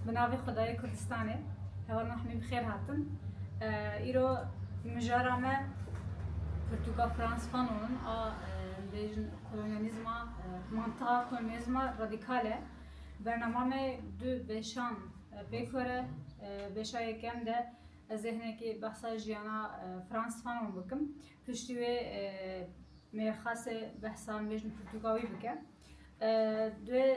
Bi navê Xwedayê Kurdistanê heval me hemî bi xêr hatin. Îro mijara me Pirtûka Frans Fanon in a dibêjin kolonyalîzma mantiqa kolonyalîzma radîkal e. Bernama me du beşan pêk xwere. Beşa yekem de ez ê hinekî behsa jiyana Frans Fanon bikim. Piştî wê mêrxas ê behsa dibêjin pirtûka wî bike. Duê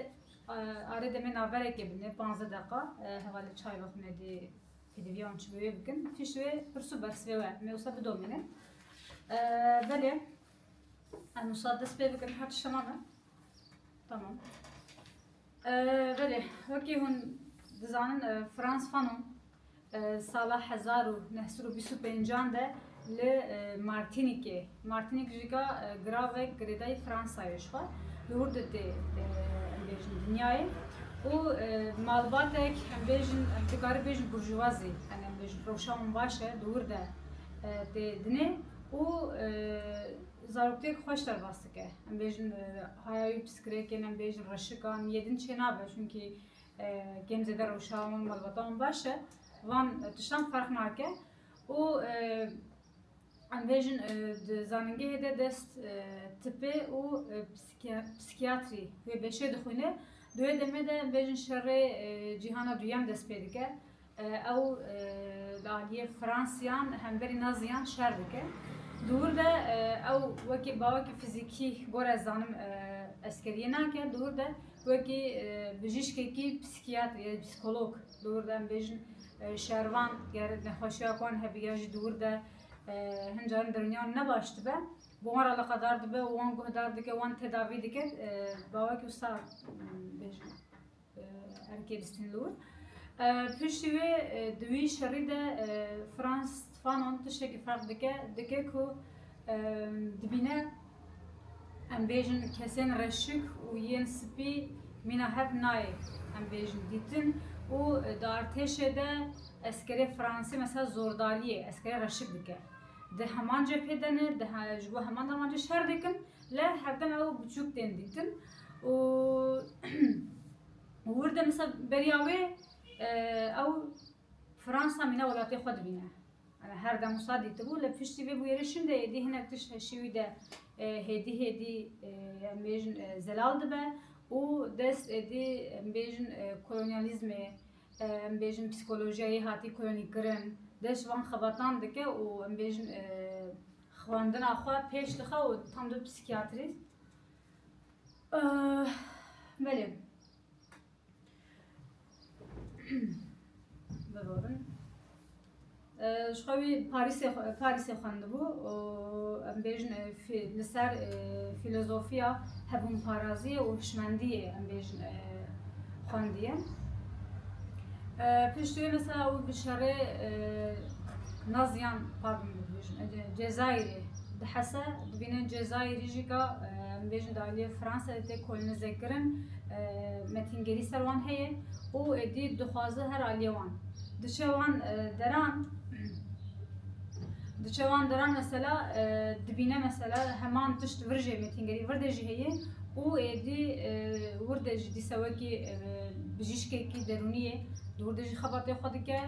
Arê demê naverekê bine panzdeh deqa hevalê çay ve xunedê pêdivîya wan çi bi wê bikin. Pişt wê pirsu be sibê we me wisa bidomîne. Belê em wisa dest pê bikin her tiştema me. Tamam. Belê wekî hûn dizanin Frans Fanon Sala hezar û neh sed û bîst û pêncan de li Martinîkê, Martinîk ji ka giravek girêdayî Fransayê ji xwe li wir de tê bêjin dinyayê û malbatek em bêjin em dikarin bêjin burjuwazî em ê bêjin rewşa wan baş e li wir de tê dinê û zaroktêk xweş derbas dike. Em bêjin haya wî pisikirêkên em bêjin reşikan yê din çênabe çunkî Kêm zêde rewşa wan malbata wan baş e. Van tiştan ferq nake û em vê jin di zanîngehê de dest tipê û psîkiyatrî wê beşê dixwîne. Di wê demê de em vê jin şerê cîhana duyem dest pê dike. Ew li aliyê Fransiyan hemverî Naziyan şer dike. Di wir de ew wekî bawekî fizîkî gor ez zanim eskeriyê nake, di wir de wekî bijîşkekî psîkiyatrî ya psîkolog di wir de em bêjin şervan ger nexweşiya ku wan hebe ya jî di wir de hin caran dirûniya wan ne baş dibe bi wan re eleqedar dibe û wan guhdar dike û wan tedavî dike bawekî wisa bêjin. Ergêlîstin Lûr, Piştî wê di wî şerî de Frans Fanon tiştekî ferq dike, dike ku dibîne em bêjin kesên reşik û yên spî mîna hev nayê em bêjin dîtin û di artêşê de eskerê fransî mesela zordariyê eskerê reşik dike. Di heman cephê de ne, di ji bo heman davancê şer dikin. Leh hevdem ew biçûk tên dîtin û wir de misa beriya wê ew Fransa mîna welatê xwe dibîne. Her dem wisa dîtibû lê piştî vê bûyerê şûn de êdî hinek tişt heşî wî de hêdî hêdî em bêjin zelal dibe û dest êdî em bêjin kolonyalîzmê em bêjin psîkolojîya yê hatî kolonîkirin dest ji van xebatan dike û em bêjin Xwendina xwe pêş dixe û tam dibe psîkîyatrîst. Belê. Bibo bin. Ji xwe wî Parîsê Parîsê xwendibû û em bêjin li ser fîlozofiya hebûnparaziyê û hişmendiyê em bêjin xwendiye. Pişt wê mesela û bi şerê Naziyan pardon dibêjin Cezayirê di hese dibînin Cezayirî jî ka dibêjin di aliyê Fransayê tê kolonîze kirin metîngerî ser wan heye û êdî dixwaze her aliyê wan diçe wan deran diçe wan deran mesela dibîne mesela heman tişt vir jê metîngerî vir de jî heye û êdî wir de jî dîsa wekî bijîşkekî derûnî yê di wir de jî xebatê xwe dike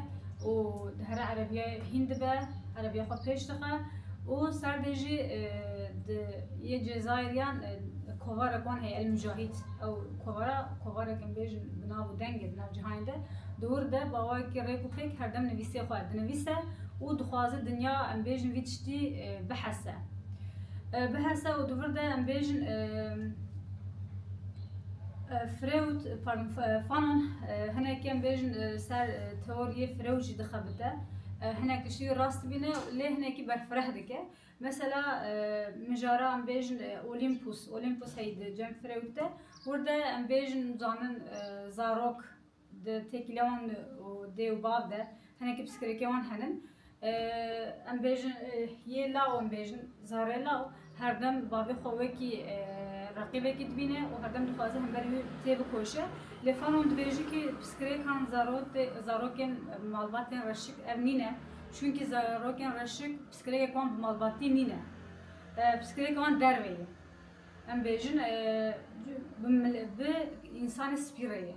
û dihere erebîyayê hîn dibe erebîya xwe pêş dixe û ser de jî di yê cezayirîyan kovarek wan heye El Mujahîd ew kovara kovarek em bêjin bi nav û dengê di nav cîhanê de di wir de bawayekî rêk û pêk herdem nivîsê xwe dinivîse û dixwaze dinya em bêjin vî tiştî bihese. Bi hesa û dûvir de em bêjin Freud fanan hinek em bêjin ser teoriyê Freud jî dixebite. Hinek tiştî rast bîne lê hinekî berfireh dike. Mesela mijara em bêjin Olympus, Olympus heydi cem Freud de. Wirde em bêjin zanin zarok Di têkîlê wan û dê û bav de hinekî pisikirêkê wan henin. Em bêjin yê law em bêjin zarê law herdem bavê xwe wekî reqîbekî dibîne û herdem dixwaze hemberî wî têbikoşe. Lê Fanon dibêje kî pisikirêkan zarotê zarokên malbatên reşik ev nîne. Çunkî zarokên reşik pisikirêkek wan bi malbatî nîne. Pisikirêkê wan derve ye. Em bêjin bi însanê spî re ye.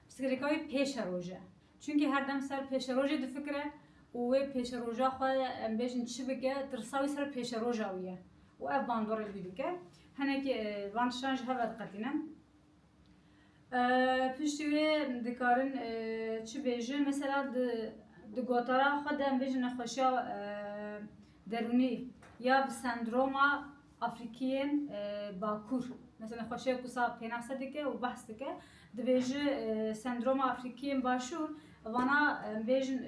Pirsgirêka wî pêşeroj e. Çunkî her dem ser pêşerojê difikire û wê pêşeroja xwe em bêjin çi bike, tirsa wî ser pêşeroja wî ye û ev bandorê wî dike. Hinekî van tiştan ji hev ve diqetîne. Piştî wê dikarin çi bêjin, mesela di gotara xwe de em bêjin nexweşiya derûnî ya bi sendroma Afrîkiyên Bakur mesela xweşe ku sab pênase dike û behs dike dibêje sendroma Afrîkiyên Başûr vana em bêjin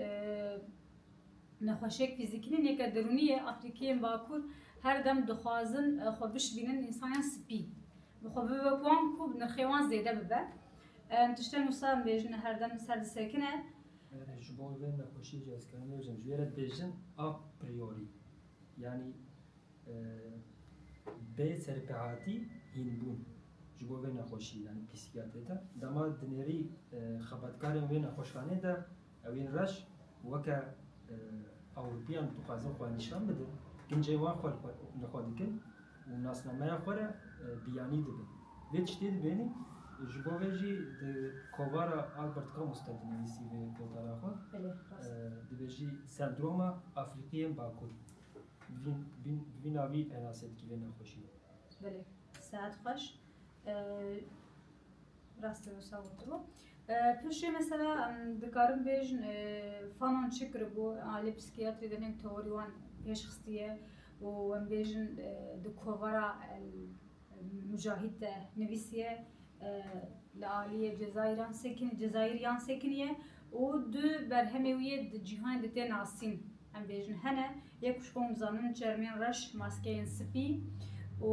nexweşiyek fîzîkî nî nêke dirûnî ye Afrîkiyên Bakur her dem dixwazin xwe bişbînin însayan spî bi xwe bibe wek wan ku bi nirxê wan zêde bibe em tiştên wisa em bêjin her dem li ser disekine. Ji bo vê nexweşiyê cihezkirina nêbijin ji wê re dibêjin a priori yanî Bê serpehatî hînbûn ji bo vê nexweşî yanî pîsîkiyatê de dema dinêrî xebatkarên wê nexweşxanê de ew ên reş weke Ewropîyan dixwazin xwe nîşan bidin, kincên wan xwe li xwe dikin û nasnameya xwe re biyanî dibin. Vê tiştê dibênî ji bo vê jî di kovara Albert Camus de dinivîsî vê gotara xwe dibêjî sendroma Afrîqiyên Bakur. Di vî navî penase dikî vê nexweşî. Belê. Sehet xweş. Rastê wisa gotibo. Pişê mesela em dikarin bêjin fanon çi kiribû alê psîkiyatrî de nêm teorî wan pêşxistiye û em bêjin di kovara Mujahîd de nivîsiye li aliyê Cezayîran sekinî Cezayîr yan sekinî ye û du berhemê wî yê di cîhanê de tê nasîn. Em bêjin hene yek ku ji xwe hûn dizanin çermên reş, maskeyên spî û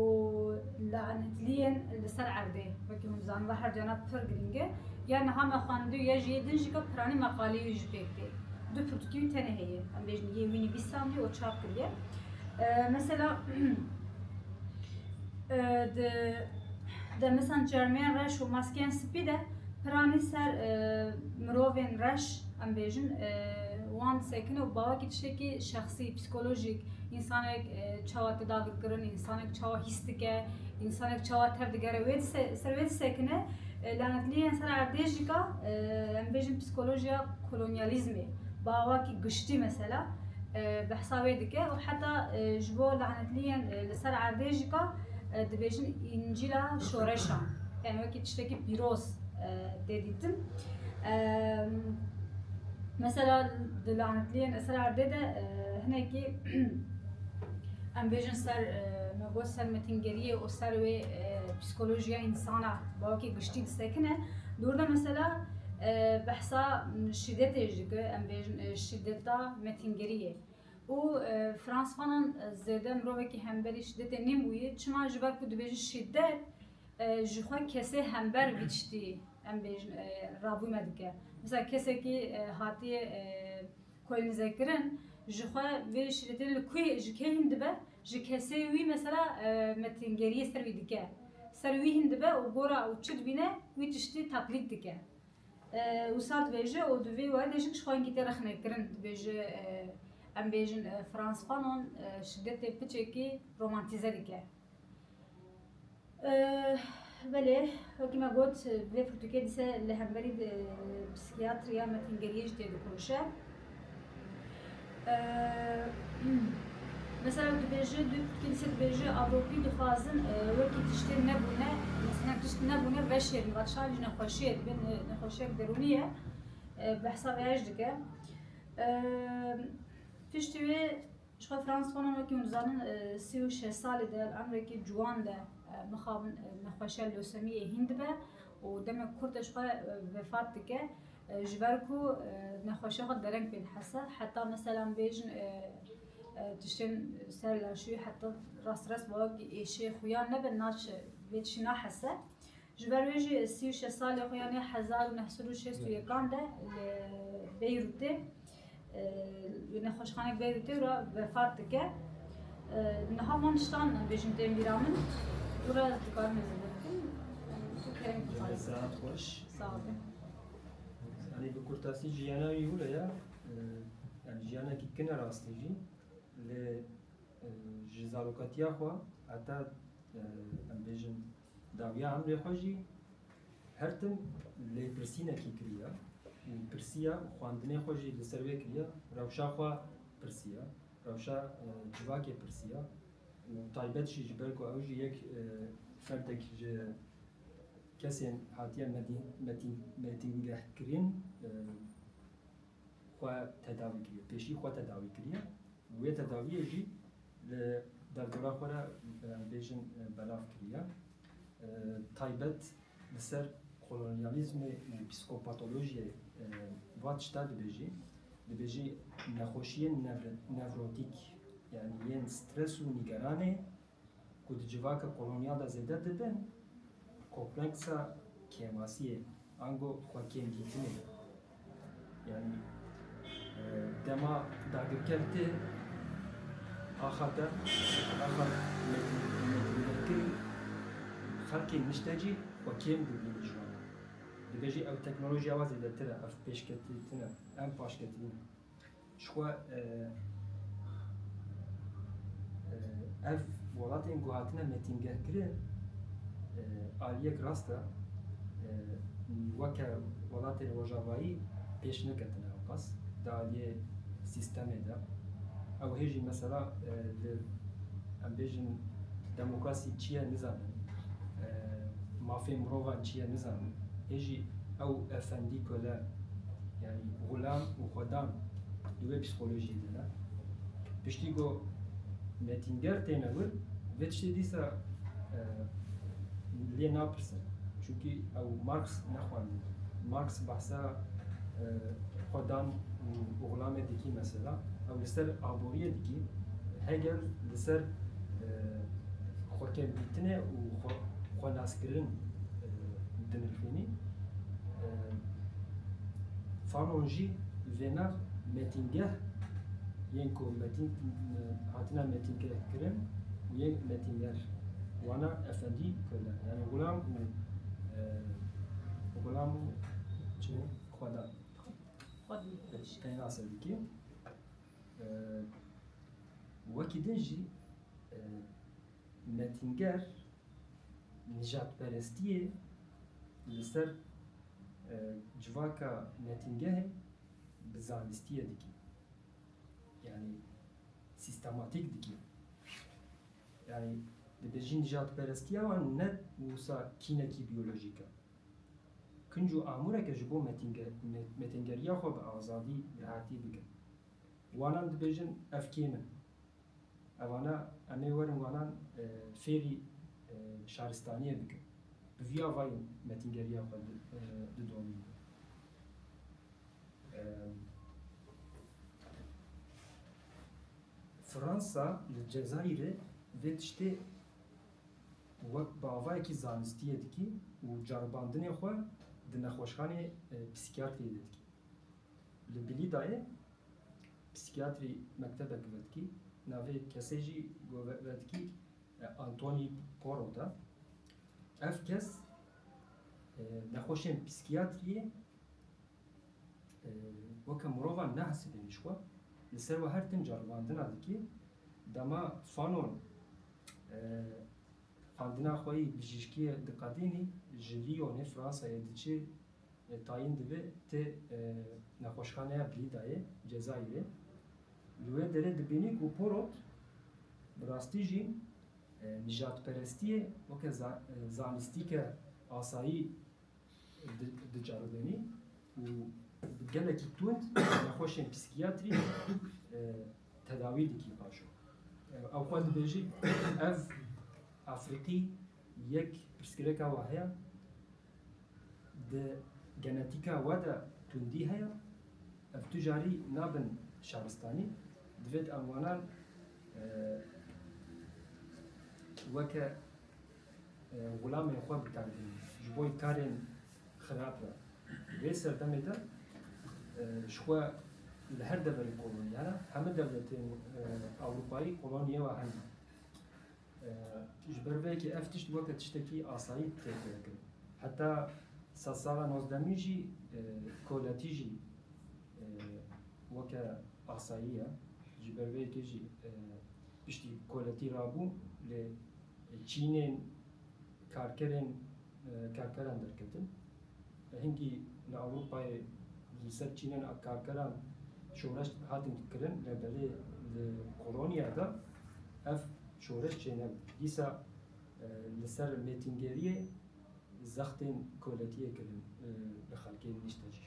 lanetliyên li ser erdê wekî hûn dizanin ve her duyana pir girîng e. Ya niha me xwendibû ya jî yê din jî ka piranî meqaleyê wî jî pêk tê. Du pirtûkên wî tenê heye. Em bêjin yê wî nivîsandiye û çap kiriye. Mesela Di demisan çermiyên reş û maskeyên spî de piranî ser mirovên reş em bêjin wan disekin û bawekî tiştekî şexsî, psîkolojîk, însanek çawa teda vir kirin, însanek çawa hîs dike, însanek çawa tev digere wê ser wê disekine. Lanetliyên ser erdê jî ka em bêjin psîkolojiya kolonyalîzmê. Bavakî giştî mesela behsa wê dike û heta ji bo lanetliyên li ser erdê jî ka dibêjin Încîla şoreşan yani wekî tiştekî pîroz tê dîtin. Mesela di lanetliyên li ser erdê de hinekî em bêjin ser me got ser metingeriyê û ser wê psîkolojiya însana bavakî giştî disekine. Li wir de mesela Behsa şîdetê jî dike, em bêjin şîdeta metîngerî ye. Û Frans Fanon zêde mirovekî hemberî şîdetê nêbûye, çima ji ber ku dibêje şîdet ji xwe kesê hember vî tiştî em bêjin rabûne dike. Misal kesekî hatiye Kolnizekirin ji xwe vê şîretê li ku yê ji kê hîn dibe, ji kesê wî mesela metingeriyê ser wî dike, ser wî hîn dibe û gora ew çi dibîne wî tiştî taklît dike. Wisa dibêje û di vê werdê jî jixwe hingî tê rexnekirin, dibêje em bêjin Frantz Fanon şidetê piçekî romantîze dike. Belê, wekî me got bi vê pirtûkê dise li hemberî psîkîyatriya metîngeriyê jî tê dikonişe. Mesela dibêje du pirtûkê dise dibêje Ewropî dixwazin wekî tiştên nebûne hinek tişt nebûne veşêrin vat şan jî nexweşiyê dibin nexweşiyek derûnî ye bi hesabê her jî dike. Piştî wê Jixwe Frans Fanon wekî hûn dizanin sê û şeş salî di emrekî ciwan de mixabin nexweşiya losemiyê hîn dibe û demek kurte jixwe vefat dike ji ber ku nexweşiya xwe dereng pê dihese heta meselan bêjin tiştên ser laşûyê heta rastires bawer ku êşê xuya nebe naçe vê tiştî nahese. Ji ber wê jî sî û şeş salê xwe yanê hezar û neh sed û şêst û yekan de li Beyrûtê li nexweşxanek Beyrûtê re vefat dike. Niha van tiştan bêjin tên bîra min û re ez dikarim hêzê vê bikim. Tu kerem dixwazî. Saet xweş. Sağ ol. Yanî bi kurtasî jiyana wî hûre ya. Yani jiyanekî kin e rastî jî. Lê ji zarokatiya xwe heta em bêjin Dawiya Emrê xwe jî her tim lêpirsînekî kiriye û pirsiye û xwendinê xwe jî li ser wê kiriye, rewşa xwe pirsiye, rewşa civakê pirsiye û taybet jî ji ber ku ew jî yek ferdek ji kesên hatiye metîngehkirin xwe tedawî kiriye, pêşî xwe tedawî kiriye û wê tedawiyê jî li derdora xwe re em bêjin belav kiriye. Taybet li ser kolonyalîzmê û psîkopatolojiyê va tişta dibêjî, dibêjî nexweşiyên nevrotîk yanî yên stres û nîgeranê, ku di civaka kolonyal de zêde didin, kompleksa kêmasiyê, ango xwekêmdîtinê. Yanî dema dagirker tê axa te, axa mêtingerkirî, xelkê nişte jî xwe kêm dibîne ji wan re. Dibe jî ew teknolojiya wa zêdetir e, ev pêşketîtin e, em paşketî ne. Çikwa ev welatên ku hatine metîngehkirin aliyek rast e, weke welatên rojavayî pêş neketine ewqas di aliyê sîstemê de. Ew hê jî mesela di em bêjin demokrasî çi ye nizanin, mafên mirovan çi ye nizanin. Hê jî ew efendî kole. Yanî Xulam û Xwedan di wê psîkolojiyê de ne. Piştî ku netînger têne wir, vê tiştê dîsa lê napirse. Çunkî ew Marx nexwandiye. Marx behsa Xwedan û Xulamê dikî mesela, ew li ser aboriyê dikî, Hegel li ser xwekevdîtinê û xwenaskirin Dinirxînî Fanon jî vêner metîngeh yên ku metîn hatine metînkirin û yên metînger wana efendî kole yani gulam û gulam û çi bû xweda Keyna Sedikî wekî din jî Metînger, nijadperestiyê li ser civaka metîngehê bi zanistiyê dike. Yanî sîstematîk dike. Yanî dibe jî nijadperestiya wan ne wisa kînekî biyolojîk e. Kinc û amûreke ji bo metîngeriya xwe bi azadî, bi hertî bike. Wanan dibêjin ev kêm in. Evana em ê werin wanan fêrî şaristaniyê bikin. Bi vî avayî metîngeriya xwe didomînin. Fransa li Cezayîrê vê tiştê wek bi avayekî zanistiyê dikî û ceribandinê xwe di nexweşxanê psîkiyatriyê de dikî. Li Bilîdayê Psîkîyatrî mektebe girdkî navê kesê jî govetkî Antonî Porot e. Ev kes nexweşên psîkîyatrîyê weke mirovan nahesibîne ji xwe. Li ser we her tim ceribandina dike. Dema Fanon xwendina xwe yê bijîşkîyê diqedînî ji Lîyonê, Fransayê diçe Lê tayîn dibe tê nexweşxaneya Blîdayê, Cezayîrê. Li wê derê dibînî ku porot bi rastî jî nîjadperestiyê weke zanistîke asayî dicaribênî û bi gelekî tund nexweşên psîkîyatrî tedawî dikî. Paşo ew xwe dibêjî, Ev Efrîqî yek pirsgirêka wa heye. Di genetîka we de tundî heye, ev tu carî nabin şaristanî. Divêt em wanan weke xulamên xwe bikarbînin ji bo karên xirab re. Vê serdemê de ji xwe li her deverê kolonyaya heme dewletên Ewropayî kolonyê we hene. Ji ber vê yekê ev tişt weke tiştekî asayî tê fêrkirin. Heta sedsala nozdemîn jî koletî jî weke asayî ye. Ji ber vê yekê jî piştî koletî rabû lê çînên Karkerên karkeran derketin. Hingî li Ewropayê li ser çînên karkeran şoreş hatin kirin lê belê li Polonyaya de ev şoreş çênebû. Dîsa li ser mêtîngeriyê zextên koletiyê kirin li xelkê nişte jî.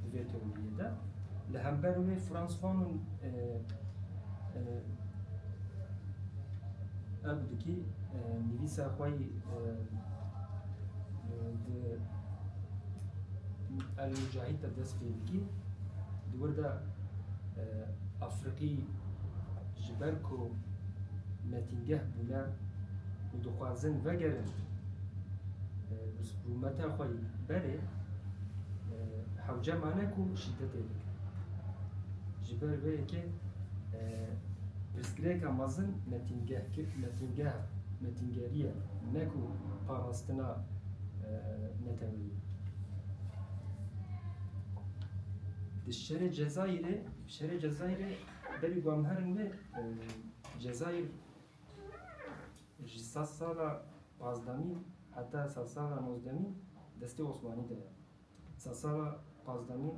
di vê tewriyê de. Li hember wê Frans Fanon ev dikî nivîsa xwe yî di El Mujahid de dest pê dikî. Di wir de Afriqî ji ber ku metîngeh bûne û dixwazin vegerin bi rûmeta xwe yî berê, Hewce mane ku şîdetê dike. Ji ber vê yekê pirsgirêka mezin metîngeha metîngeriyê ye ne ku parastina neteweyî. Di şerê Cezayirê, şerê Cezayirê berî bamherin wê Cezayir Ji sed sala pazdemî heta sed sala nozdemî destê Osmanî de ye. Sed sala pazdemî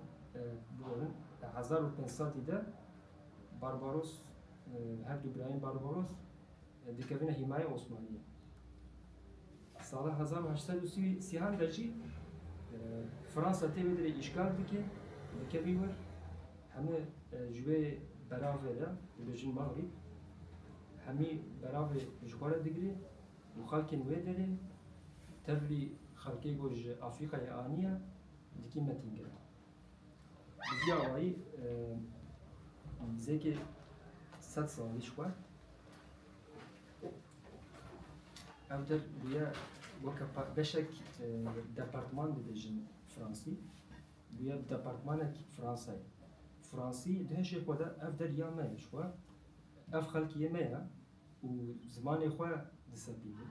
bûyerin di hezar û pênc sedî de Barbaros her du birayên Barbaros dikevine hîmayê Osmaniyê. Sala hezar û heşt sed û sî û sêan de jî Fransa tê wê derê îşgal dike, dikevî wir, hemû ji wê beravê re dibêjin Magrîb, hemî beravê ji xwe re digirê û xelkên wê derê tevlî xelkê ku ji Afrîkayê aniye dikî metîngiran. Bi vî awayî nîzêkê sed salî ji xwe. Ev dir bûye weke beşek e, departman dibêjin Fransî. Bûye bi departmanek Fransayê. Fransî di hişê xwe de ev der ya me ye ji xwe. Ev xelkiyê me ye û zimanê xwe disepînin.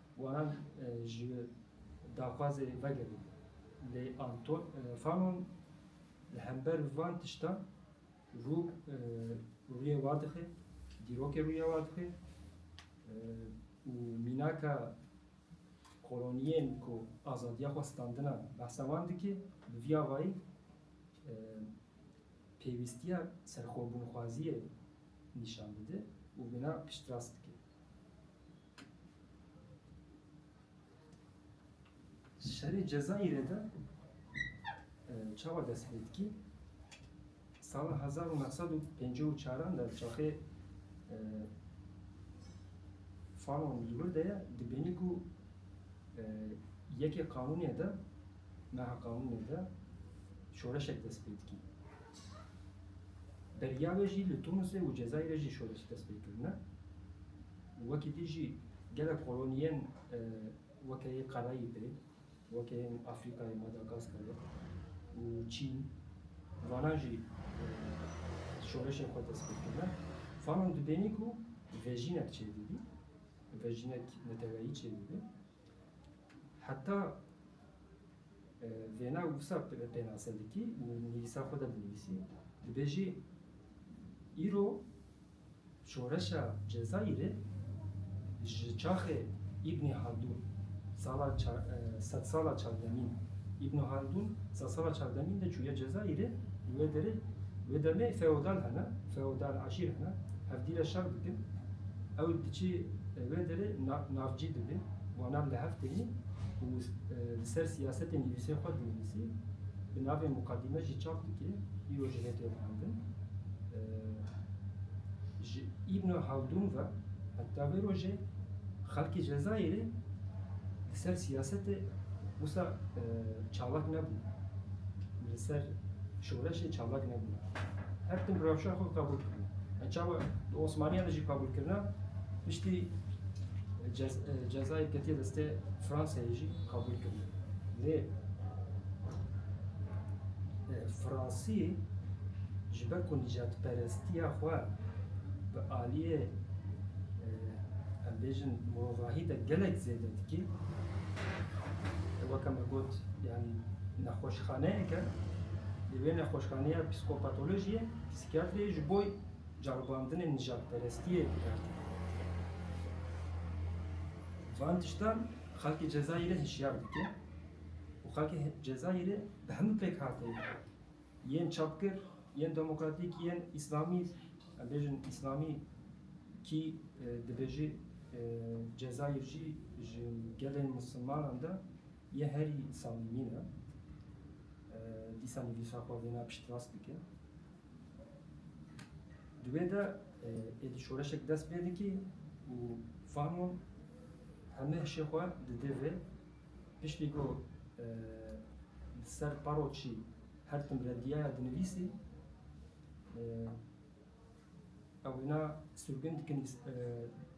Wiha ji daxwazê vegerîn. Lê Anton Fanon li hember van tiştan rû rûyê wan dixe, dîrokê rûyê wan dixe û mînaka koloniyên ku azadiya xwe standinan behsa wan dike. Bi vî avayî pêwîstiya serxwebûnxwaziyê nîşan dide û vîna piştrast dike. Şerê Cezayirê de çawa dest pê dikî? Sala hezar û neh sed û pêncî û çaran de çaxê Fanon li wir de ye dibênî ku yekê qanûnê de meha qanûnê de şoreşek dest pê dikî. Beriya wê jî li Tunisê û Cezayirê jî şoreş dest pê kirine. Wekî dî jî gelek koloniyên weke yê Qereyî pê, weke yên Afrîkayê, Madagaskarê û Çîn vanan jî şoreşên xwe destpê kirine. Fanon dibênî ku vejînek çêdibî, vejînek neteweyî çêdibî. Heta vêna wisa pênase dikî, nivîsa xwe de dinivîsî. Dibêjî îro Şoreşa Cezayîrê ji çaxê Îbnî Haldûn sala sedsala çardemîn Îbnî Haldûn sedsala çardemîn de çûye Cezayîrê li wê derê wê demê feodal hene feodal eşîr hene hevdîre şer dikin ew diçî wê derê navcî dibê wanan li hev tênî û li ser siyasetê nivîsên xwe dinivîsî bi navê Muqadîme jî çap dike îro ji hêtê dihildin. Ji Îbn Haldûn ve heta vê rojê xelkê Cezayirê li ser siyasetê wisa çalak nebûn. Li ser şoreşê çalak nebûn. Her tim rewşa xwe qebûl kirin. Çawa di Osmaniyan de jî qebûl kirina piştî Cezayir ketiye destê Fransayê jî qebûl kirina. Lê Fransî ji ber ku nîcadperestiya xwe bi aliyê em bêjin mirovahî de gelek zêde dikî weke me got yanî nexweşxaneyek e lê wê nexweşxaneya psîkopatolojiyê psîkiyatriyê ji bo ceribandinê nîjadperestiyê bikar tîne. Van tiştan Xelkê Cezayirê hişyar dike û xelkê Cezayirê bi hemû pêkhateyê yên çapkir, yên demokratîk, yên îslamî, em bêjin îslamî kî dibêjî Cezayir jî ji gelên misilmanan de yê herî samîmî ne, dîsa nivîsa xwe wêna piştrast dike. Di wê de êdî şoreşek dest pê dikî û fano hemê hişê xwe didê vê. Piştî ku di ser paroçî her tim rediyaya dinivîsî ew wina sirgûn dikin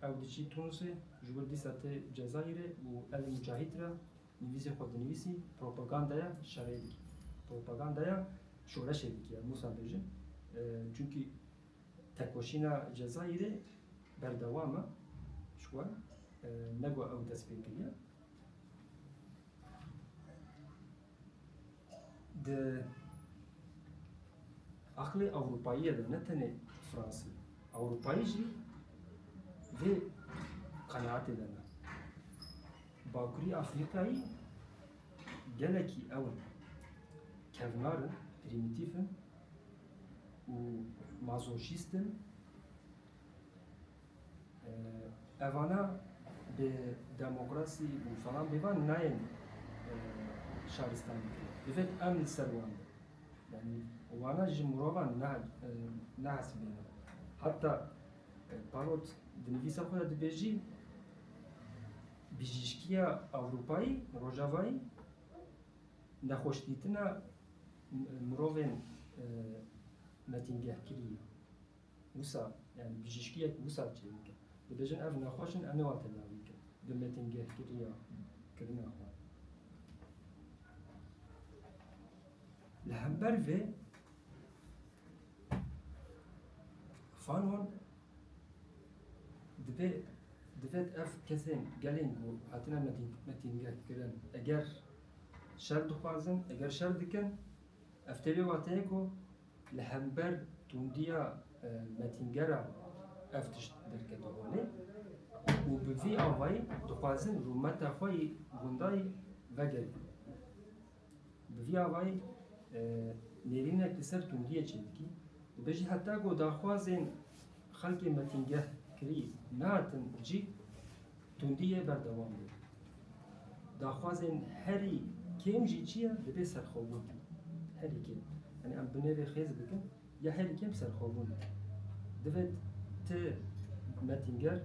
ew diçî Tunisê ji wir dîsa tê Cezayirê û Elî Mucahîd re Nivîsê xwe dinivîsî propagandaya şerê dike, propagandaya şoreşê dike em wisa bêjin. Çunkî tekoşîna Cezayirê berdewam e ji wan ne ku ew dest pê kiriye. Di aqilê Ewropayî de ne tenê Fransî, Ewropayî jî vê qenaetê de ne. Bakurî Afrîkayî gelekî ew in kevnar in, prîmîtîf in û mazochîst in. Evana bi demokrasî û falan bêvan nayên şaristanî kirin. Divêt em li ser wan bin. Yanî wana ji mirovan nehesibînin. Heta Parot di nivîsa xwe de dibêjî, Bijîşkiya Ewropayî, Rojavayî nexweşdîtina mirovên metîngehkirî ye. Wisa yani bijîşkiyek wisa çê dike. Dibêjin ev nexweş in, em ê wan tedawî bikin bi metîngehkiriya kirina xwe. Li hember vê Xanon dibe dibe ev kesên gelên ku hatine metîn metîngeh kirin eger şer dixwazin eger şer dikin ev tê vê wateyê ku li hember tundiya e, metîngera ev tişt derkete holê û bi vî avayî dixwazin rûmeta xwe yî gundayî vegerîn. Bi vî avayî nêrînek li ser tundiyê çêdikî dibe jî heta ku daxwazên xelkê metîngeh kirî nehatin cî tundî yê berdewam be. Daxwazên herî kêm jî çi ye dibe serxwebûn herî kêm. Yanî em binêrê xêz bikin. Ya herî kêm serxwebûn e. Divê ti Mettinger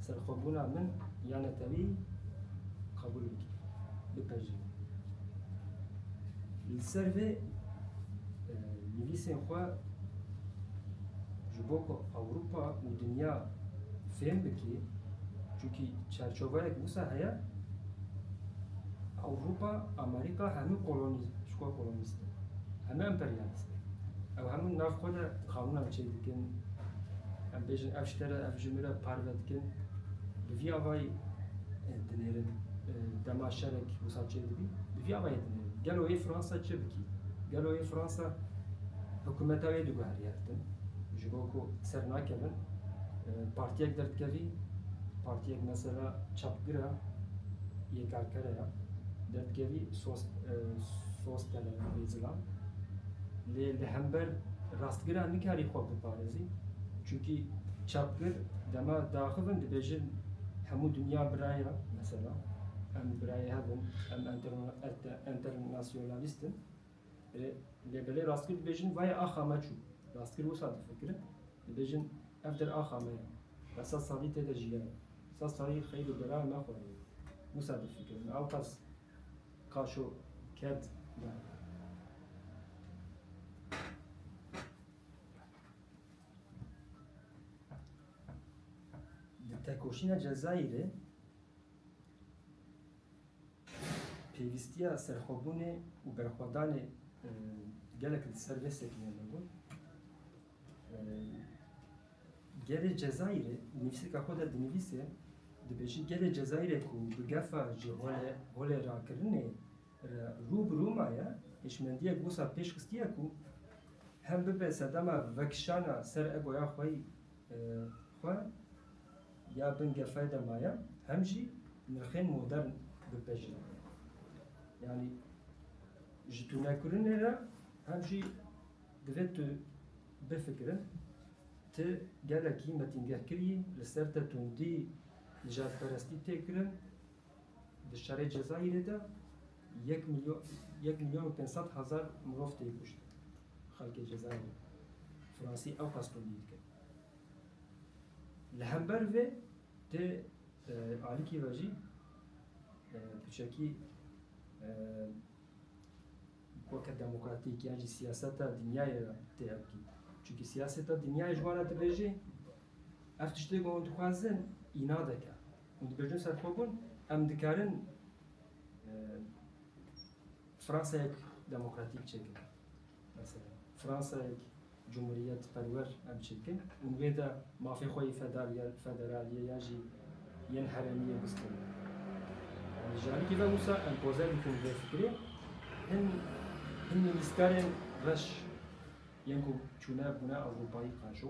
serxwebûna min ya netewî qebûl bikî, bipejirî. Li ser vê nivîsên xwe ji bo ku Ewropa û dinya fêm bikî, çunkî çerçoveyek wisa heye, Ewropa, Amerîka hemû kolonî ji xwe kolonîze. Em ne emperyalîst in. Ew hemû li nav xwe de qanûnan çêk dikin. Em bêjin ev ji te re, ev ji min re parve dikin. Bi vî avayî dinêrin. Dema şerek wisa çêk dibî, bi vî avayî dinêrin. Gelo yê Fransa çi bikî? Gelo yê Fransa hikumeta wê diguherî hev din. Ji bo ku ser nakevin, partiyek derdikevî, partiyek mesela çapgir e, yê karkere ye, derdikevî sos, Dost tele navê zilam. Lê li hember rastgira nikarî xwe biparêzî. Çunkî çapgir dema daxil in dibêjin hemû dinya biraya mesela em birayê hev in, em enternasyonalîst in. Lê belê rastgir dibêjin vayê axa me çû. Rastgir wisa difikirin, dibêjin ev der axa me ye. Me sed salî tê de jiyaye. Sed salî xeyr û bela me xwariye. Wisa difikirin. Awqas. Kaşo ket derve. Di tekoşîna Cezayîrê pêvîstiya serxwebûnê û berxwedanê gelek li ser vê sekinîya me bû. Gelê Cezayirê nivîseka xwe de dinivîse, dibêjî gelê Cezayirê ku bi gefa ji holêrakirinê re rû bi rû maye, hişmendiyek wisa pêş xistiye ku hem bibe sedema vekişana ser egoya xwe xwe ya bin gefayê de maye hem jî nirxên modern bipejine. Yanî ji tûnekirinê re hem jî Divê tu bifikire, ti gelekî metîngehkirî, li ser te tundî, nijadperestî tê kirin, di şerê Cezayîrê de yek milyon yek milyon û pênc sed hezar mirov tê kuştin. Xelkê Cezayîrê Fransî ewqas tundî dikin. Li hember vê tê alikî ve jî tu çekî weke demokratîk yan jî siyaseta dinyayê re tê hevdî. Çimkî siyaseta dinyayê ji wan re dibêjê ev tiştê ku hûn dixwazin înadek e. Hûn dibêjin serxwebûn em dikarin Fransayek demokratîk çêkin. Mesela Fransayek cumhuriyetperwer em çi dikin û li vê de mafê xwe yê federaliyê ya jî yên herêmiyê biz kirine. Yanî ji alîkî ve wisa empoze dikin vê fikirê. Hin hin nivîskarên reş yên ku çûne bûne Ewropayî qejo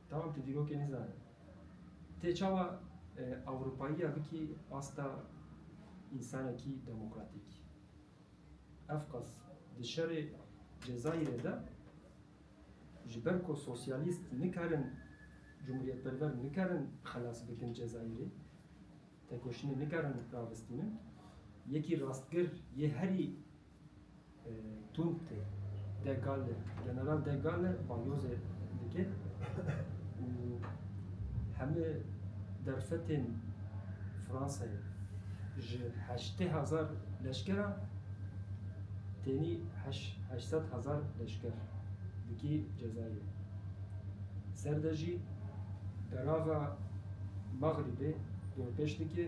Dawam tu dîrokê nizane. Tê çawa Ewropayiya bikî asta însanekî demokratîk? Ev qas di şerê Cezayirê de ji ber ku sosyalîst nikarin cumhuriyetperver nikarin xelas bikin Cezayirê, tekoşînê nikarin ravistînin, yekî rastgir yê herî Tûmptê De Galle, General De Galle balyozê dike û hemû derfetên Fransayê ji heştê hezar leşkera tenî heşt heşt sed hezar leşker dikî Cezayirê. Ser de jî berava Mexrîbê dorpêç dike.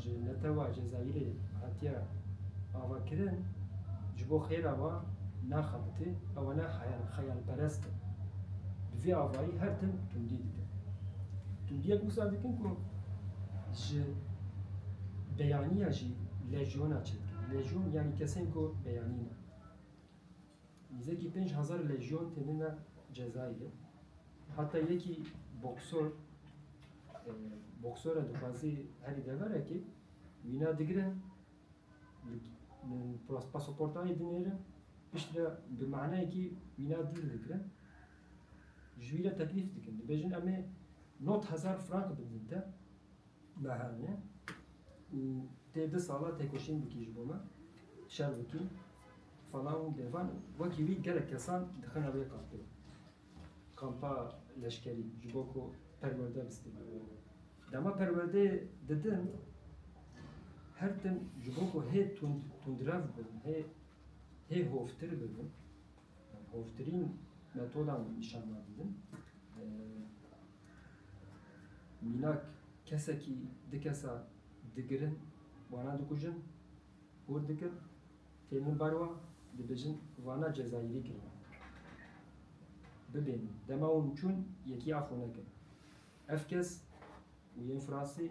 ji netewa Cezayîrê hatiye avakirin ji bo xêra wan naxebite ewana xeyalperest in bi vê avayî her tim tundî dikin. Tundiyek wisa dikin ku ji beyaniya jî lejyona çêdikin. Lejyon yanî kesên ku beyanî ne. Nîzekî pênc hezar lejyon tênine cezayê. Heta yekî boksor boksora dixwazî herî deverekê wîna digirin pasaportayê dinêrin pişt re bi manayekî wîna dîl dikirin ji wî re teklîf dikin dibêjin emê not hezar frank bidin te Nahewne û tê du sala têkoşîn bikî ji bo me, şer bikî, falan û bêvan wekî wî gelek kesan dixine wê kampê, kampa leşkerî ji bo ku perwerde bistîne. Dema perwerdeyê didin her tim ji bo ku hê tund tundrev bin, hê hê hovtir bibin, Hovtirîn metodan nîşan dadin min. Mînak kesekî di kesa digirin wana dikujin, hûr dikin, tê min bar wan dibêjin wana cezayîrî kirine. Bibêjin dema hûn çûn yekî af xwe nekir. Ev kes û yên Fransî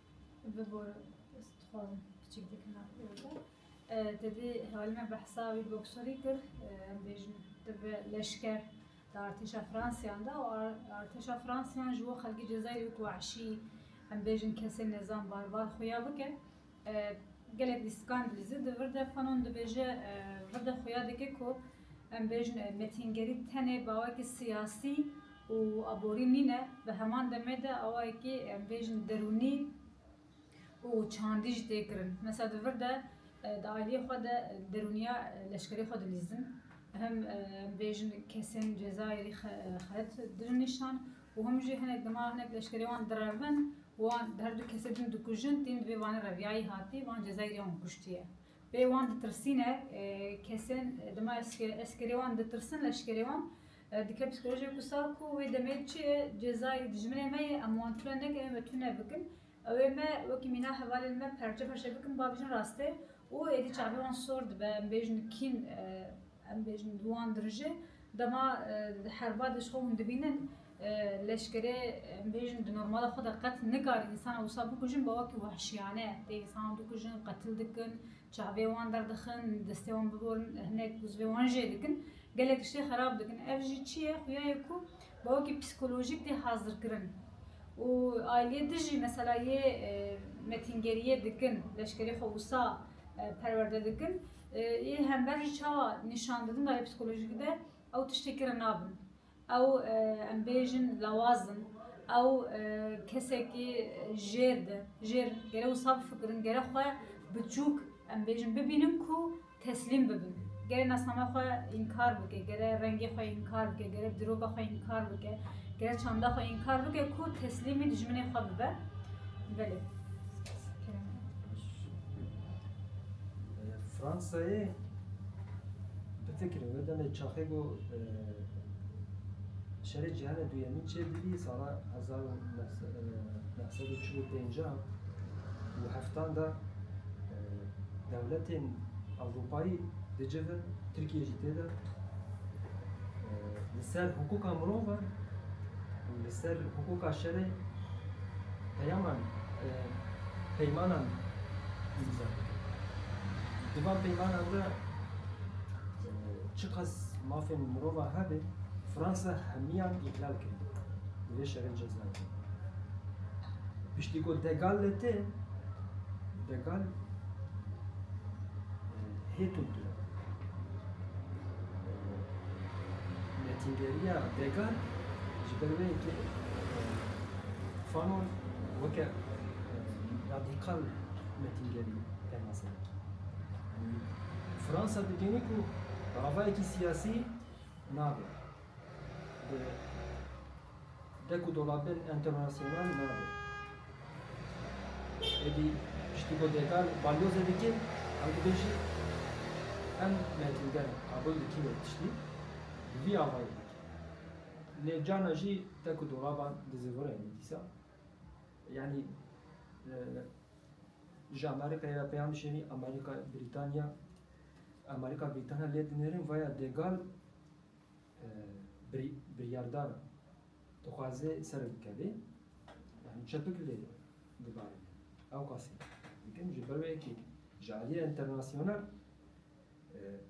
Bibore ez dixwazim kiçik dikina pêro te dê hevalê me behsa wî boksarî kir em bêjin te bi leşker di artêşa Fransiyan de û artêşa Fransiyan ji bo xelkê Cezayirê wek weşî em bêjin kesên nezan barbar xuya bike gelek lîstikan dilîze di vir de fanon dibêje vir de xuya dike ku Em bêjin metîngerî tenê bawekî siyasî û aborî nîne, bi heman demê de awayekî em bêjin derûnî û çandî jî tê kirin. Mesela di vir de di aîliyê xwe de derûniya leşkerî xwe dilîzin. Him em bêjin kesên Cezayirî xelet didin nîşan û him jî hinek dima hinek leşkerê wan direvin û wan her du kesê din dikujin tîn di vê vanê re viyayî hatî van Cezayirî wan kuştiye. Bê wan ditirsîne kesên dima eskerê wan ditirsin leşkerê wan dike psîkolojiyek û sal ku wê demê çi ye cezayê dijminê me ye em wan tune nekin em ê tune bikin ew ê me wekî mîna hevalên me perçe perçe bikin ba bijin rastê û êdî çavê wan sor dibe em bêjin kîn Em bêjin bi wan dirijin. Dema di herba de ji xwe hûn dibînin leşkerê em bêjin di normala xwe de qet nikare însanan wisa bikujin bi wekî wehşiyane tê însanan dikujin, qetil dikin, çavê wan derdixin, destê wan biborin, hinek uzvê wan jê dikin. Gelek tiştê xerab dikin. Ev jî çi ye? Xuya ye ku bi wekî psîkolojîk tê hazirkirin û aîliyê dijî mesela yê metîngeriyê dikin, leşkerê xwe wisa perwerde dikin. Yê hember jî çawa nîşan didin dayê psîkolojîkî de ew tiştekî re nabin. Ew em bêjin lawaz in, ew kesekî jêr di jêr in. Gere wisa bifikirin, gere xwe biçûk em bêjin bibînin ku teslîm bibin. Gere nasname xwe înkar bike, gere rengê xwe înkar bike, gere diroka xwe înkar bike, gere çanda xwe înkar bike ku teslîmî dijminê xwe bibe. Belê. Fransayê bifikirin ve demê çaxê go şerê cîhanê duyemîn çêdibî sala hezar û neh sed û çil û pêncah û heftan de dewletên Ewropayî di civ in Tirkîye jî tê de li ser hiqûqa mirov e û li ser hiqûqa şerê Peyaman, peymanan îmza dikin. Di van peymanan de çiqas mafên mirova hebe, Fransa hemiyan îhlal kir di vê şerên cezayê de. Piştî ku De Gaulle li tê, De Gaulle hê tund tune. Netîgeriya De Gaulle ji ber wê yekê Fanon weke radîkal metîngerî pênaze dike. Fransa dikenî ku ravayekî siyasî nabe. Bi dek û dolabên enternasyonal nabe. Êdî piştî ku Dekar balyozê dike, ew dibêje em metînger qabûl dikîne tiştî bi vî avayî dike. Lê carna jî te ku dolaban dizîvirê min dîsa yanî ji Amerîkayê re peyam dişênî Amerîka Brîtanya Amerîka Brîtanya lê dinêrin vaya Degal biryardar e dixwaze ser bikevê yanî çepik lê dibarîne ewqasî dikin ji ber wê yekê ji aliyê înternasyonel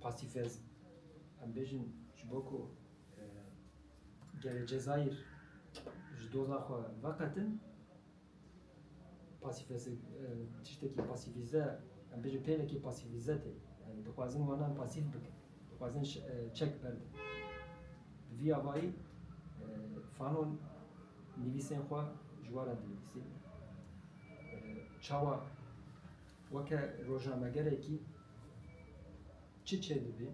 Pasîfezm, em bêjin ji bo ku gelê Cezayîr ji doza xwe veqetin, pasîfez tiştekî pasîfîze, em bêjin pêlekê pasîfîze tê. Yanî dixwazin wanan pasîf bikin. Dixwazin çek berdin. Bi vî avayî Fanon nivîsên xwe ji wan re dinivîsî. Çawa Weke rojnamegerekî çi çêdibî?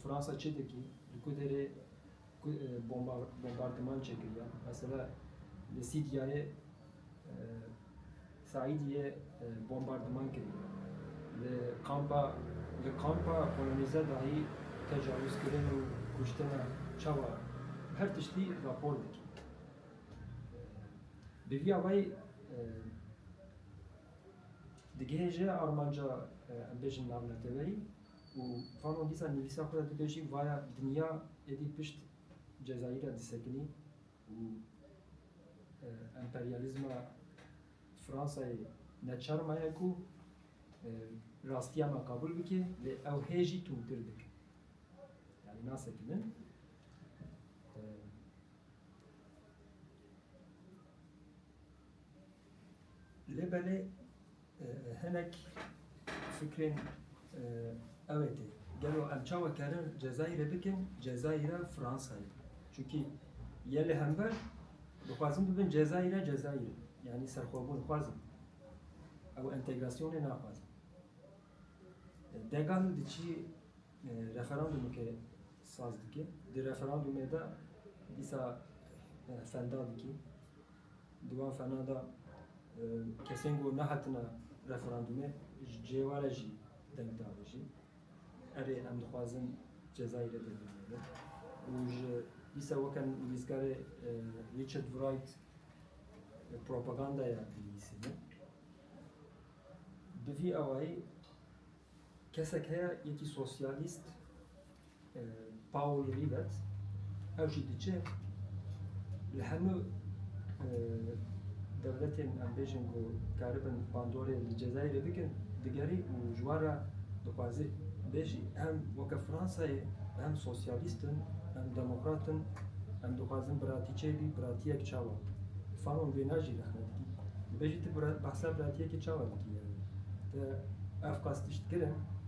Fransa çi dikî? Li ku derê ku bombardiman çêkiriya? Mesela li Sîdyayê Saîdiyê bombardiman kiriye. Li kampa li kampa polonîze dahî tecawizkirin û kuştin e. Çawa? Her tiştî rapor dikî. Bi vîya wayî Digihêje armanca em bêjin navneteweyî û Fanon dîsa nivîsa xwe de dibêjî vaya dinya êdî pişt Cezayîra disekinî û emperyalîzma Fransayê ne çar maye ku rastiya me qabûl bike lê ew hê jî tundtir dike. Yani nasekinin. Lê belê hinek fikrên ew ê tê, gelo em çawa karin Cezayirê bikin Cezayira Fransayê? Çunkî yê li hember dixwazin bibin Cezayira Cezayirê. Yanî serxwebûn xwazin. Ew entegrasyonê naxwazin. Degan di çî referandumeke saz dike. Di referandumê de dîsa fenda dikî. Di wan fernan de kesên ku nehatine referandûmê ji cihê wan re jî deng dabin jî erê em dixwazin Cezayîrê bêhnijî bin û ji dîsa weke nivîskarê Richard Wright propagandaya dinivîsîne. Bi vî awayî kesek heye yekî sosyalîst Paul Rivet, ew jî diçe li hemû dewletên em bêjin ku dikaribin bandorê li Cezayirê bikin digerî û ji wan re dixwaze bêjî em weke Fransayê em sosyalîst in, em demokrat in, em dixwazin biratî çêbî, biratiyek çawa? Fanon vê najî rexne dikî. Dibêjî tu behsa biratiyekê çawa dikî yani? Te ev qas tişt kirin?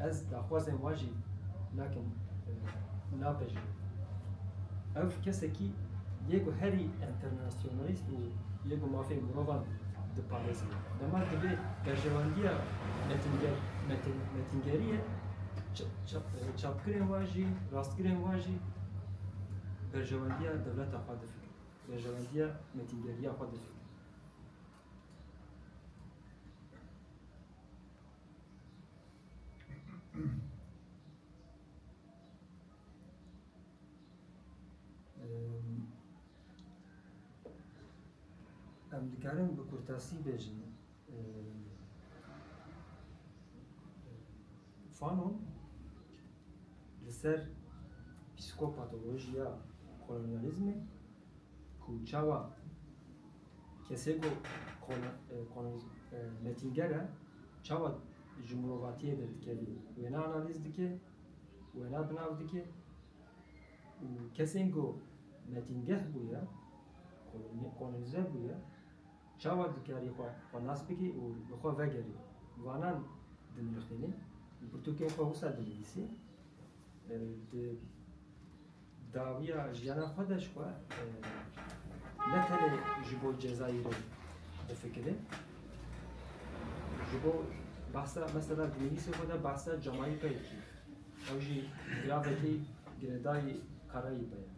Ez daxwazên wan jî nakim napejirîm. Ew kesekî yê ku herî enternasyonalîst û yê ku mafên mirovan diparêze. Dema divê berjewandiya metîngerî ye, çapkirên wan jî, rastgirên wan jî berjewandiya dewleta xwe difikirin, berjewandiya metîngeriya xwe difikirin. Em dikarin bi kurtasî bêjin. Fanon li ser psîkopatolojiya kolonyalizmê ku çawa Kesê ku metinker e çawa ji mirovatiyê de dikerî wêna analîz dike, wêna bi nav dike û kesên ku metingeh bûye, kolonîze bûye çawa dikarî xwe nas bike û li xwe vegerî. Vanan dinirxînî, li pirtûkên xwe wisa dinivîsî, di Dawiya jiyana xwe de ji xwe ne tenê ji bo Cezayirê difikire. Ji bo behsa mesela di nivîsê xwe de behsa Camaîkayê dike. Ew jî giravekî girêdayî Karayîpê ye.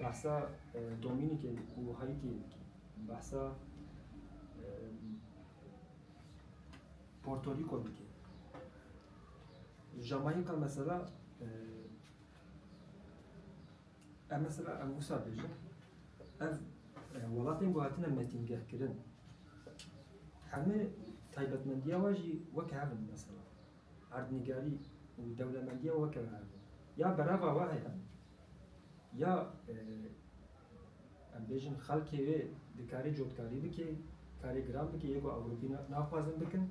Behsa Domînîkê û Haîtiyê dike. Behsa Portorîko dike. Camaîka mesela Em mesela ev wisa bêjin, ev e, welatên ku hatine metîngehkirin, hemû taybetmendiya we jî weke hev in mesela. Erdnîgarî û dewlemendiya we weke hev in. Ya berava we heye, ya e, em bêjin xelkê wê dikarê cotkarî bike, karê giran bike, yê ku Ewropî na- naxwazin bikin,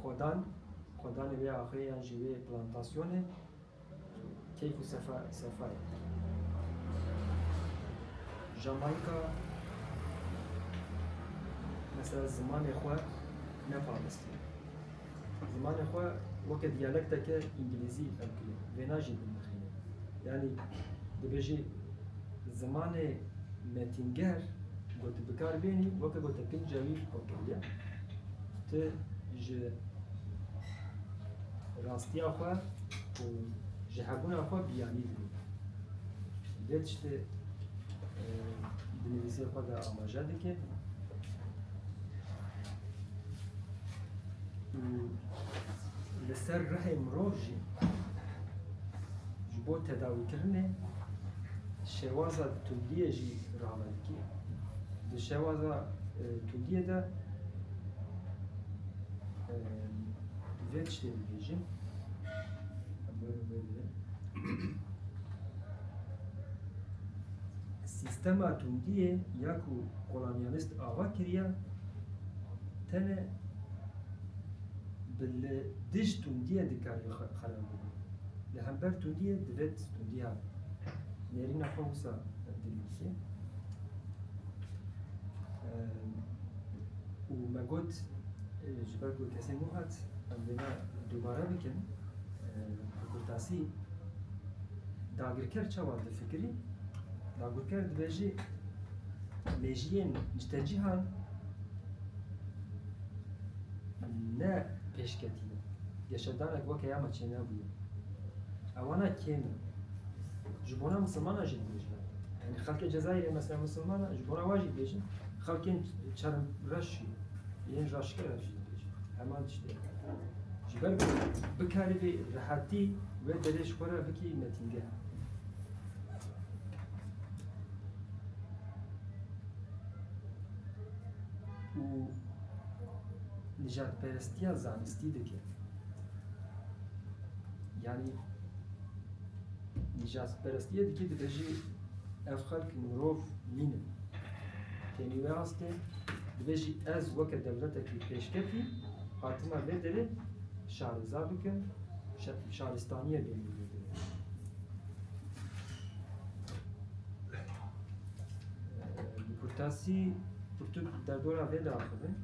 Xwedan, xwedanê wê axirê yan jî wê plantasyonê keyf û sefa sefa ye. Jamayîka mesela zimanê xwe neparstiye. Zimanê xwe weke diyalekteke îngilîzî fehm kiriye. Vêna jî binirxîne. Yanî dibêjî zimanê metînger ku tu bikar bênî weke ku te pênc cawî xwe kiriye. Tu ji rastiya xwe û ji hebûna xwe biyanî dibî. Vê tiştê di nivîsê xwe de amaje dike û li ser rihê mirov jî ji bo tedawîkirinê şêwaza tundiyê jî rave dike. Di şewaza Tugiyê de vê tiştê dibêjin. Sistema Tugiyê ya ku kolonyalist ava kiriye tene bi li dij Tugiyê dikarî xerab bibin. Li hember Tugiyê divêt Tugiya nêrîna xwe wisa dilîzê. û me got ji ber ku kesên wan hat em wêne dubare bikin bi kurtasî dagirker çawa difikirî dagirker dibêjî mejiyên ji tecîhan ne pêşketîne geşedanek weke ya me çênebûye ewana kêm e ji bona misilmanan jî dibêjin Yani xelkê Cezayirê mesela Müslüman ji bo rewa jî bêjin xelkên çerm reş jî yên raşke reş jî bêjin heman tiştê ji ber ku bikarî vê rehetî wê derê ji xwe re bikî metîngeh û nijadperestiya zanistî dike yani Nîşastperestiyê dikî dibe jî ev xelk mirov nînin. Tenî wê astê dibe jî ez weke dewletekî pêşketî hatina vê derê şareza bikim, şaristaniyê bêhna Kurtasî kurtuk derdora vê de axivin.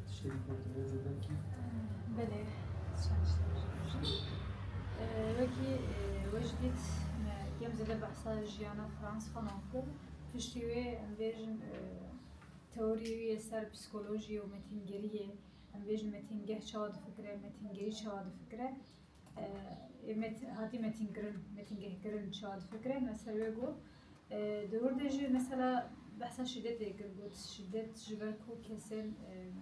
Tiştekî kurtulêzê belkî. Belê. وەکî we jî dît me kêm zêde behsa jiyana Frans Fanon kir. Piştî wê em bêjin teoriyê wî yê ser psîkolojiyê û metîngeriyê em bêjin metîngeh çawa difikire, metîngerî çawa difikire ê met hatî metînkirin, metîngehkirin çawa difikire me ser wê got. Di wir de jî mesela behsa şîdetê kir got şîdet ji ber ku kesên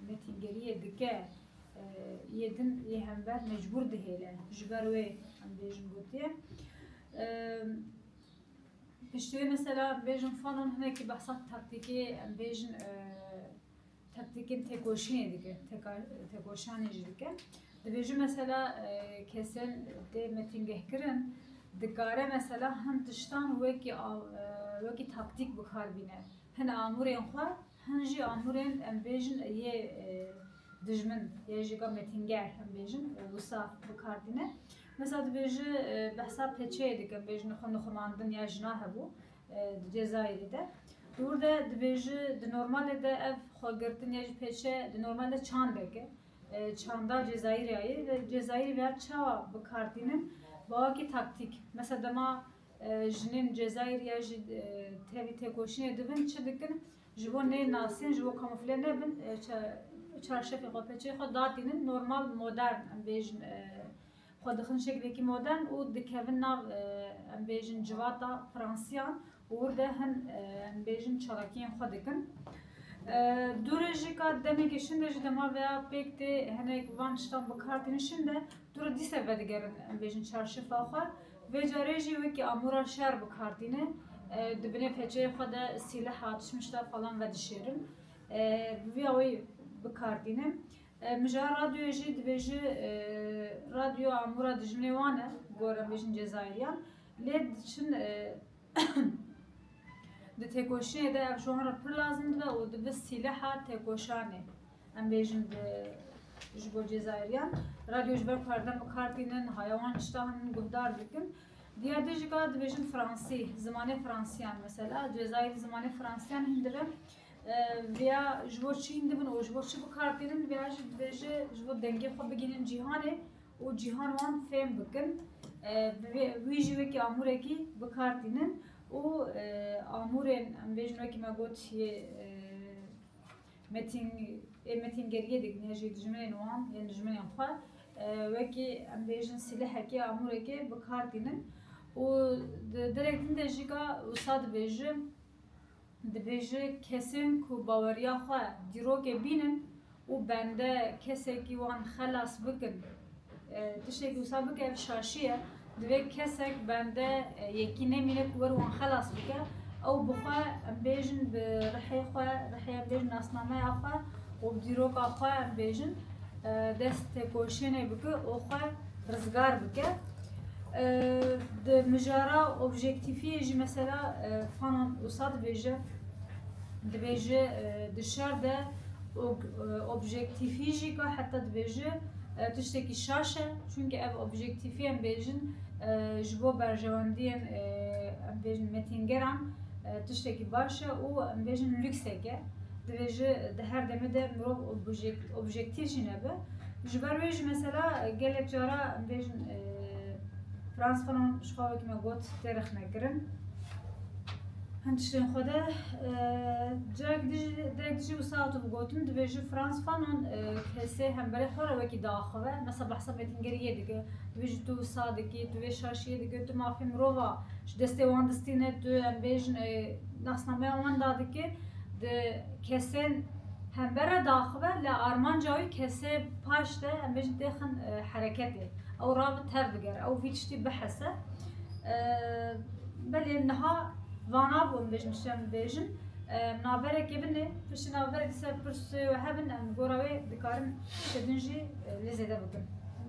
metîngeriyê dike Yê din yê hember mecbûr dihêle. Ji ber wê em bêjin gotiye. Piştî wê mesela bêjin Fanon hinekî behsa taktîkê em bêjin taktikên têkoşînê dike, têkoşanê jî dike. Dibêjin mesela kesên tê metîngehkirin dikare mesela hin tiştan wekî wekî taktîk bikar bîne. Hin amûrên xwe Hin jî amûrên em bêjin yê dijmin yê jî gamêtînger em bêjin wisa bikar tîne. Mesela dibêji behsa peçeyê dikim bêjin xwe nixumandin ya jina hebû di Cezayirê de. Dûr de dibêji di normalê de ev xwegirtin ya jî peçe di normal de çandek e. Çanda Cezayirê ye. Cezayirê ve çawa bikar tînin? Bawakî taktîk. Mesela dema Jinên Cezayîrî ya jî tevî têkoşînê dibin, çi dikin ji bo nê nasîn, ji bo kamufle nebin, çarşefê xwe, peçeyê xwe datînin, normal modern em bêjin xwe dixin şeklekî modern û dikevin nav em bêjin civata Fransîyan û wir de hin em bêjin çalakîyên xwe dikin. Dû re jî ka demekê şinde ji dema ve ya pêk tê hinek van tiştan bikar tînin şinde dû re dîse vedigerin em bêjin çarşefa xwe. Vê carê jî wekî amûran şer bi kar tîne, di binê feçeyê xwe de sîleha tişmişta falan vedişêrin. Bi vî awayî bi kar tîne. Mijaha radyoyê jî dibêje radyo amûra dijminê wan e, gorem bêjin Cezayîryan. Lê diçin di têkoşînê de ev ji wan re pir lazim dibe û dibe sîleha têkoşanê. Em bêjin di ji bo Cezayiryan radyo ji ber kardem û kar tînin haya wan tiştan guhdar dikin. Diya dijika dibêjin Fransî, zimanê Fransîyan mesela Cezayirî zimanê Fransîyan hin dibin. Vêya ji bo çîn dibin û ji bo çi bikar tînin vêya jî dibêje ji bo dengê xwe bigihînin cîhanê û cîhan wan fêm bikin. Wî jî wekî amûrekî bikar tînin û amûrên em bêjin wekî me got yê Metîngê metîngeriyê digihîne jî dijminên wan yên dijminên xwe wekî em bêjin sîlehekê, amûrekê bi kar tînin û di derek din de jî ka wisa dibêje, dibêje kesên ku baweriya xwe dîrokê bînin û bende kesekî wan xelas bikin. Tiştê ku wisa bike ev şaşî ye. Divê kesek bende yekî nemîne ku were wan xelas bike. Ew bi xwe em bêjin bi rihê xwe, rihê em bêjin nasnameya xwe û dîroka xwe em bêjin dest têkoşînê bike û xwe rizgar bike. Di mijara objektîfiyê jî mesela Fanon wisa dibêje, dibêje di şer de objektîfî jî ka heta dibêje, Tiştekî şaş e çunke ev objektîfî em bêjin ji bo berjewendiyên em bêjin metîngeran tiştekî baş e û em bêjin lûksek e. Divê ji di her demê de mirov objektîf jî nebe. Ji ber wê jî mesela gelek cara em bêjin Frans Fanon ji xwe wekî me got tê rexnekirin. Hin tiştên xwe de carek derek dijî wisa hatu bi gotin divê ji Frans Fanon kesê hemberê xwe re wekî diaxivin. Mesa behsa mêtingerî yê dike. Divê ji tu wisa dikî, tu vê şaşî yê dike, tu mafê mirov a ji destê wan distîne, tu em bêjin nasnameya wan da dike. Di kesên hember re diaxive li armanca wî kesê paş de em bêjin têxin hereketê. Ew ra bi tev digere, ew vî tiştî bihese. Belê niha vanabûn bêjin tu şem dibêjin. Naverekê bin e, tu şi naverek li ser pirsê we hebin em gora wê dikarin şibin jî lê zêde bikin.